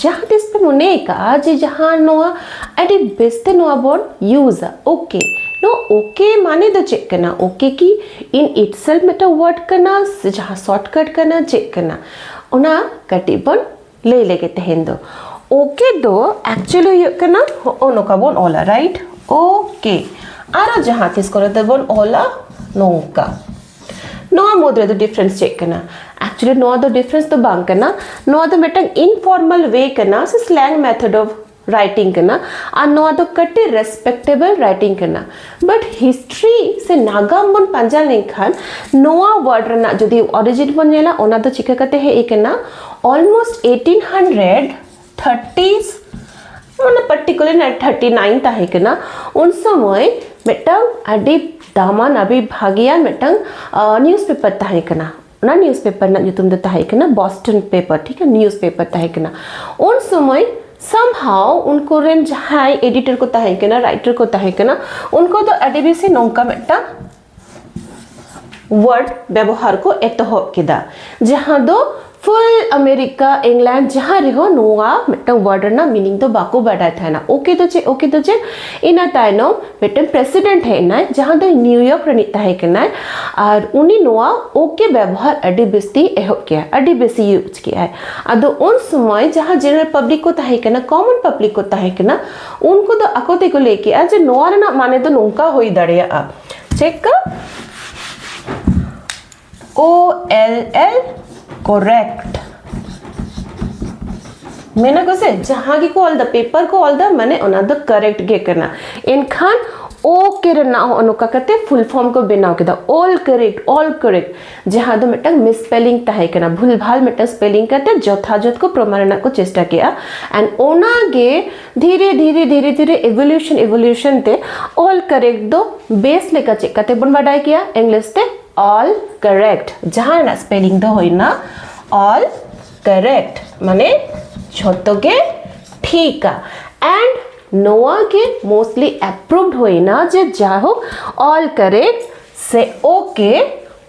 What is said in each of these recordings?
ᱡᱟᱦᱟᱸ ᱛᱤᱥ ᱯᱮ ᱢᱚᱱᱮ ᱟᱠᱟᱜᱼᱟ ᱡᱮ ᱡᱟᱦᱟᱸ ᱱᱚᱣᱟ ᱟᱹᱰᱤ ᱵᱮᱥᱛᱮ ᱱᱚᱣᱟ ᱵᱚᱱ ᱤᱭᱩᱡᱟ ᱳᱠᱮ ᱱᱚᱣᱟ ᱳᱠᱮ ᱢᱟᱱᱮ ᱫᱚ ᱪᱮᱫ ᱠᱟᱱᱟ ᱳᱠᱮ ᱠᱤ ᱤᱱ ᱤᱴᱥᱮᱞ ᱢᱤᱫᱴᱟᱝ ᱣᱟᱨᱰ ᱠᱟᱱᱟ ᱥᱮ ᱡᱟᱦᱟᱸ ᱥᱚᱨᱴᱠᱟᱴ ᱠᱟᱱᱟ ᱪᱮᱫ ᱠᱟᱱᱟ ᱚᱱᱟ ᱠᱟᱹᱴᱤᱡ ᱵᱚᱱ ᱞᱟᱹᱭ ᱞᱮᱜᱮ ᱛᱮᱦᱮᱧ ᱫᱚ ᱳᱠᱮ ᱫᱚ ᱮᱠᱪᱩᱭᱮᱞᱤ ᱦᱩᱭᱩᱜ ᱠᱟᱱᱟ ᱦᱚᱸᱜᱼᱚ ᱱᱚᱝᱠᱟ ᱵᱚᱱ ᱚᱞᱟ ᱨᱟᱭᱤᱴ ᱳᱠᱮ ᱟᱨᱚ ᱡᱟᱦᱟᱸ ᱛᱤᱥ ᱠᱚᱨᱮ ᱫᱚᱵᱚᱱ ᱚᱞᱟ ᱱᱚᱝᱠᱟ ᱱᱚᱣᱟ ᱢᱩᱫᱽ ᱨᱮᱫᱚ ᱰᱤᱯᱷᱨᱮᱱᱥ ᱪᱮᱫ ᱠᱟᱱᱟ ᱮᱠᱪᱩᱭᱮᱞᱤ ᱱᱚᱣᱟ ᱫᱚ ᱰᱤᱯᱷᱨᱮᱱᱥ ᱫᱚ ᱵᱟᱝ ᱠᱟᱱᱟ ᱱᱚᱣᱟ ᱫᱚ ᱢᱤᱫᱴᱟᱝ ᱤᱱᱯᱷᱚᱨᱢᱟᱞ ᱣᱮ ᱠᱟᱱᱟ ᱥᱮ ᱥᱞᱮᱝ ᱢᱮᱛᱷᱚᱰ ᱚᱯᱷ ᱨᱟᱭᱴᱤᱝ ᱠᱟᱱᱟ ᱟᱨ ᱱᱚᱣᱟ ᱫᱚ ᱠᱟᱹᱴᱤᱡ ᱨᱮᱥᱯᱮᱠᱴᱮᱵᱚᱞ ᱨᱟᱭᱴᱤᱝ ᱠᱟᱱᱟ ᱵᱟᱴ ᱦᱤᱥᱴᱨᱤ ᱥᱮ ᱱᱟᱜᱟᱢ ᱵᱚᱱ ᱯᱟᱸᱡᱟ ᱞᱮᱱᱠᱷᱟᱱ ᱱᱚᱣᱟ ᱣᱟᱨᱰ ᱨᱮᱱᱟᱜ ᱡᱩᱫᱤ ᱚᱨᱤᱡᱤᱱ ᱵᱚᱱ ᱧᱮᱞᱟ ᱚᱱᱟ ᱫᱚ ᱪᱤᱠᱟᱹ ᱠᱟᱛᱮ ᱦᱮᱡ ᱟᱠᱟᱱᱟ ᱚᱞᱢᱳᱥᱴ ᱮᱭᱤᱴᱤᱱ ᱦᱟᱱᱰᱨᱮᱰ ᱛᱷᱟᱨᱴᱤᱥ ᱢᱟᱱᱮ ᱯᱟᱨᱴᱤᱠᱩᱞᱟᱨ ᱱᱟᱭᱤᱱ ᱛᱷᱟᱨᱴᱤ ᱱᱟᱭᱤᱱ ᱛᱟᱦᱮᱸ ᱠᱟᱱᱟ ᱩᱱ ᱥᱚᱢᱚᱭ ᱢᱤᱫᱴᱟᱝ ᱟᱹᱰᱤ ᱫᱟᱢᱟᱱ ᱟᱹᱰᱤ ᱵᱷᱟᱜᱮᱭᱟᱱ ᱢᱤᱫᱴᱟᱝ ᱱᱤᱭᱩᱡᱽ ᱯᱮᱯᱟᱨ ᱛᱟᱦᱮᱸ ᱠᱟᱱᱟ ᱚᱱᱟ ᱱᱤᱭᱩᱡᱽ ᱯᱮᱯᱟᱨ ᱨᱮᱱᱟᱜ ᱧᱩᱛᱩᱢ ᱫᱚ ᱛᱟᱦᱮᱸ ᱠᱟᱱᱟ ᱵᱚᱥᱴᱚᱱ ᱯᱮᱯᱟᱨ ᱴᱷᱤᱠ ᱜᱮᱭᱟ ᱱᱤᱭᱩᱡᱽ ᱯᱮᱯᱟᱨ ᱛᱟᱦᱮᱸ ᱠᱟᱱᱟ ᱩᱱ ᱥᱚᱢᱚᱭ somehow ᱩᱱᱠᱩ ᱨᱮᱱ ᱡᱟᱦᱟᱸᱭ ᱮᱰᱤᱴᱚᱨ ᱠᱚ ᱛᱟᱦᱮᱸ ᱠᱟᱱᱟ ᱨᱟᱭᱴᱟᱨ ᱠᱚ ᱛᱟᱦᱮᱸ ᱠᱟᱱᱟ ᱩᱱᱠᱩ ᱫᱚ ᱟᱹᱰᱤ ᱵᱮᱥᱤ ᱱᱚᱝᱠᱟ ᱢᱤᱫᱴᱟᱝ ᱣᱟᱨᱰ ᱵᱮᱵᱚᱦᱟᱨ ᱠᱚ ᱮᱛᱚᱦᱚᱵ ᱠᱮᱫᱟ ᱡᱟᱦᱟᱸ ᱫᱚ ᱯᱷᱩᱞ ᱟᱢᱮᱨᱤᱠᱟ ᱤᱝᱞᱮᱱᱰ ᱡᱟᱦᱟᱸ ᱨᱮᱦᱚᱸ ᱱᱚᱣᱟ ᱢᱤᱫᱴᱟᱝ ᱣᱟᱨᱰ ᱨᱮᱱᱟᱜ ᱢᱤᱱᱤᱝ ᱫᱚ ᱵᱟᱠᱚ ᱵᱟᱰᱟᱭ ᱛᱟᱦᱮᱱᱟ ᱳᱠᱮ ᱫᱚ ᱪᱮᱫ ᱳᱠᱮ ᱫᱚ ᱪᱮᱫ ᱤᱱᱟᱹ ᱛᱟᱭᱱᱚᱢ ᱢᱤᱫᱴᱟᱝ ᱯᱨᱮᱥᱤᱰᱮᱱᱴ ᱦᱮᱡ ᱮᱱᱟᱭ ᱡᱟᱦᱟᱸ ᱫᱚ ᱱᱤᱭᱩᱭᱚᱨᱠ ᱨᱤᱱᱤᱡ ᱛᱟᱦᱮᱸ ᱠᱟᱱᱟᱭ ᱟᱨ ᱩᱱᱤ ᱱᱚᱣᱟ ᱳᱠᱮ ᱵᱮᱵᱚᱦᱟᱨ ᱟᱹᱰᱤ ᱵᱮᱥᱛᱮ ᱮᱦᱚᱵ ᱠᱮᱜᱼᱟ ᱟᱹᱰᱤ ᱵᱮᱥᱤ ᱤᱭᱩᱡᱽ ᱠᱮᱜᱼᱟᱭ ᱟᱫᱚ ᱩᱱ ᱥᱚᱢᱚᱭ ᱡᱟᱦᱟᱸ ᱡᱮᱱᱟᱨᱮᱞ ᱯᱟᱵᱽᱞᱤᱠ ᱠᱚ ᱛᱟᱦᱮᱸ ᱠᱟᱱᱟ ᱠᱚᱢᱚᱱ ᱯᱟᱵᱽᱞᱤᱠ ᱠᱚ ᱛᱟᱦᱮᱸ ᱠᱟᱱᱟ ᱩᱱᱠᱩ ᱫᱚ ᱟᱠᱚ ᱛᱮᱠᱚ ᱞᱟᱹᱭ ᱠᱮᱜᱼᱟ ᱡᱮ ᱱᱚᱣᱟ ᱨᱮᱱᱟᱜ ᱢᱟᱱᱮ ᱫᱚ ᱱᱚᱝᱠᱟ ᱦᱩᱭ ᱫᱟᱲᱮᱭᱟᱜᱼᱟ ᱪᱮᱫᱠᱟ ᱳ ᱮᱞ ᱮᱞ ᱠᱚᱨᱮᱠᱴ ᱢᱮᱱᱟ ᱠᱚ ᱥᱮ ᱡᱟᱦᱟᱸ ᱜᱮᱠᱚ ᱚᱞ ᱫᱟ ᱯᱮᱯᱟᱨ ᱠᱚ ᱚᱞ ᱫᱟ ᱢᱟᱱᱮ ᱚᱱᱟ ᱫᱚ ᱠᱟᱨᱮᱠᱴ ᱜᱮ ᱠᱟᱱᱟ ᱮᱱᱠᱷᱟᱱ ᱳ ᱠᱮ ᱨᱮᱱᱟᱜ ᱦᱚᱸ ᱱᱚᱝᱠᱟ ᱠᱟᱛᱮ ᱯᱷᱩᱞ ᱯᱷᱚᱨᱢ ᱠᱚ ᱵᱮᱱᱟᱣ ᱠᱮᱫᱟ ᱚᱞ ᱠᱟᱨᱮᱠᱴ ᱚᱞ ᱠᱟᱨᱮᱠᱴ ᱡᱟᱦᱟᱸ ᱫᱚ ᱢᱤᱫᱴᱟᱝ ᱢᱤᱥᱯᱮᱞᱤᱝ ᱛᱟᱦᱮᱸ ᱠᱟᱱᱟ ᱵᱷᱩᱞ ᱵᱷᱟᱞ ᱢᱤᱫᱴᱟᱝ ᱥᱯᱮᱞᱤᱝ ᱠᱟᱛᱮ ᱡᱚᱛᱷᱟᱡᱚᱛ ᱠᱚ ᱯᱨᱚᱢᱟᱱ ᱨᱮᱱᱟᱜ ᱠᱚ ᱪᱮᱥᱴᱟ ᱠᱮᱜᱼᱟ ᱮᱱᱰ ᱚᱱᱟᱜᱮ ᱫᱷᱤᱨᱮ ᱫᱷᱤᱨᱮ ᱫᱷᱤᱨᱮ ᱫᱷᱤᱨᱮ ᱮᱵᱷᱚᱞᱩᱥᱚᱱ ᱮᱵᱷᱚᱞᱩᱥᱚᱱ ᱛᱮ ᱚᱞ ᱠᱟᱨᱮᱠᱴ ᱫᱚ ᱵᱮᱥ ᱞᱮᱠᱟ ᱪᱮᱫ ᱠᱟᱛᱮ ᱵᱚᱱ ᱵᱟᱰᱟᱭ ᱠᱮᱭᱟ ᱤᱝᱞᱤᱥ ᱛᱮ ᱚᱞ ᱠᱟᱨᱮᱠᱴ ᱡᱟᱦᱟᱸ ᱨᱮᱱᱟᱜ ᱥᱯᱮᱞᱤᱝ ᱫᱚ ᱦᱩᱭᱱᱟ ᱚᱞ ᱠᱟᱨᱮᱠᱴ ᱢᱟᱱᱮ ᱡᱷᱚᱛᱚ ᱜᱮ ᱴᱷᱤᱠᱟ ᱮᱱᱰ ᱱᱚᱣᱟ ᱜᱮ ᱢᱳᱥᱴᱞᱤ ᱮᱯᱨᱩᱵᱷᱰ ᱦᱩᱭᱱᱟ ᱡᱮ ᱡᱟᱭᱦᱳᱠ ᱚᱞ ᱠᱟᱨᱮᱠᱴ ᱥᱮ ᱳᱠᱮ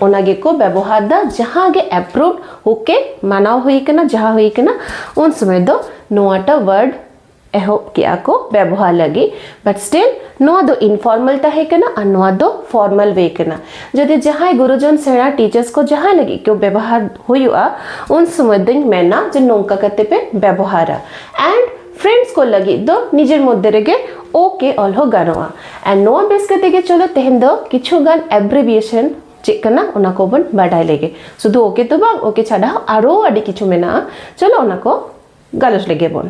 ᱚᱱᱟ ᱜᱮᱠᱚ ᱵᱮᱵᱚᱦᱟᱨ ᱫᱟ ᱡᱟᱦᱟᱸ ᱜᱮ ᱮᱯᱨᱩᱵᱷ ᱳᱠᱮ ᱢᱟᱱᱟᱣ ᱦᱩᱭ ᱠᱟᱱᱟ ᱡᱟᱦᱟᱸ ᱦᱩᱭ ᱠᱟᱱᱟ ᱩᱱ ᱥᱚᱢᱚᱭ ᱫᱚ ᱱᱚᱣᱟᱴᱟ ᱣᱟᱨᱰ ᱮᱦᱚᱵ ᱠᱮᱜᱼᱟ ᱠᱚ ᱵᱮᱵᱚᱦᱟᱨ ᱞᱟᱹᱜᱤᱫ ᱵᱟᱴ ᱥᱴᱤᱞ ᱱᱚᱣᱟ ᱫᱚ ᱤᱱᱯᱷᱚᱨᱢᱟᱞ ᱛᱟᱦᱮᱸ ᱠᱟᱱᱟ ᱟᱨ ᱱᱚᱣᱟ ᱫᱚ ᱯᱷᱚᱨᱢᱟᱞ ᱣᱮ ᱠᱟᱱᱟ ᱡᱩᱫᱤ ᱡᱟᱦᱟᱸᱭ ᱜᱩᱨᱩᱡᱚᱱ ᱥᱮᱬᱟ ᱴᱤᱪᱟᱨᱥ ᱠᱚ ᱡᱟᱦᱟᱸ ᱞᱟᱹᱜᱤᱫ ᱠᱚ ᱵᱮᱵᱚᱦᱟᱨ ᱦᱩᱭᱩᱜᱼᱟ ᱩᱱ ᱥᱚᱢᱚᱭ ᱫᱚᱧ ᱢᱮᱱᱟ ᱡᱮ ᱱᱚᱝᱠᱟ ᱠᱟᱛᱮ ᱯᱮ ᱵᱮᱵᱚᱦᱟᱨᱟ ᱮᱱᱰ ᱯᱷᱨᱮᱱᱰᱥ ᱠᱚ ᱞᱟᱹᱜᱤᱫ ᱫᱚ ᱱᱤᱡᱮᱨ ᱢᱚᱫᱽᱫᱷᱮ ᱨᱮᱜᱮ ᱳᱠᱮ ᱚᱞ ᱦᱚᱸ ᱜᱟᱱᱚᱜᱼᱟ ᱮᱱᱰ ᱱᱚᱣᱟ ᱵᱮᱥ ᱠᱟᱛᱮ ᱜᱮ ᱪᱚᱞᱚ ᱛᱮᱦᱮᱧ ᱫᱚ ᱠᱤᱪᱷᱩ ᱜᱟᱱ ᱮᱵᱽᱨᱤᱵᱤᱭᱮᱥᱚᱱ ᱪᱮᱫ ᱠᱟᱱᱟ ᱚᱱᱟ ᱠᱚᱵᱚᱱ ᱵᱟᱰᱟᱭ ᱞᱮᱜᱮ ᱥᱩᱫᱷᱩ ᱳᱠᱮ ᱫᱚ ᱵᱟᱝ ᱳᱠᱮ ᱪᱷᱟᱰᱟ ᱦᱚᱸ ᱟᱨᱚ ᱟᱹᱰᱤ ᱠᱤᱪᱷᱩ ᱢᱮᱱᱟᱜᱼᱟ ᱪᱚᱞᱚ ᱚᱱᱟ ᱠᱚ ᱜᱟᱞᱚᱪ ᱞᱮᱜᱮ ᱵᱚᱱ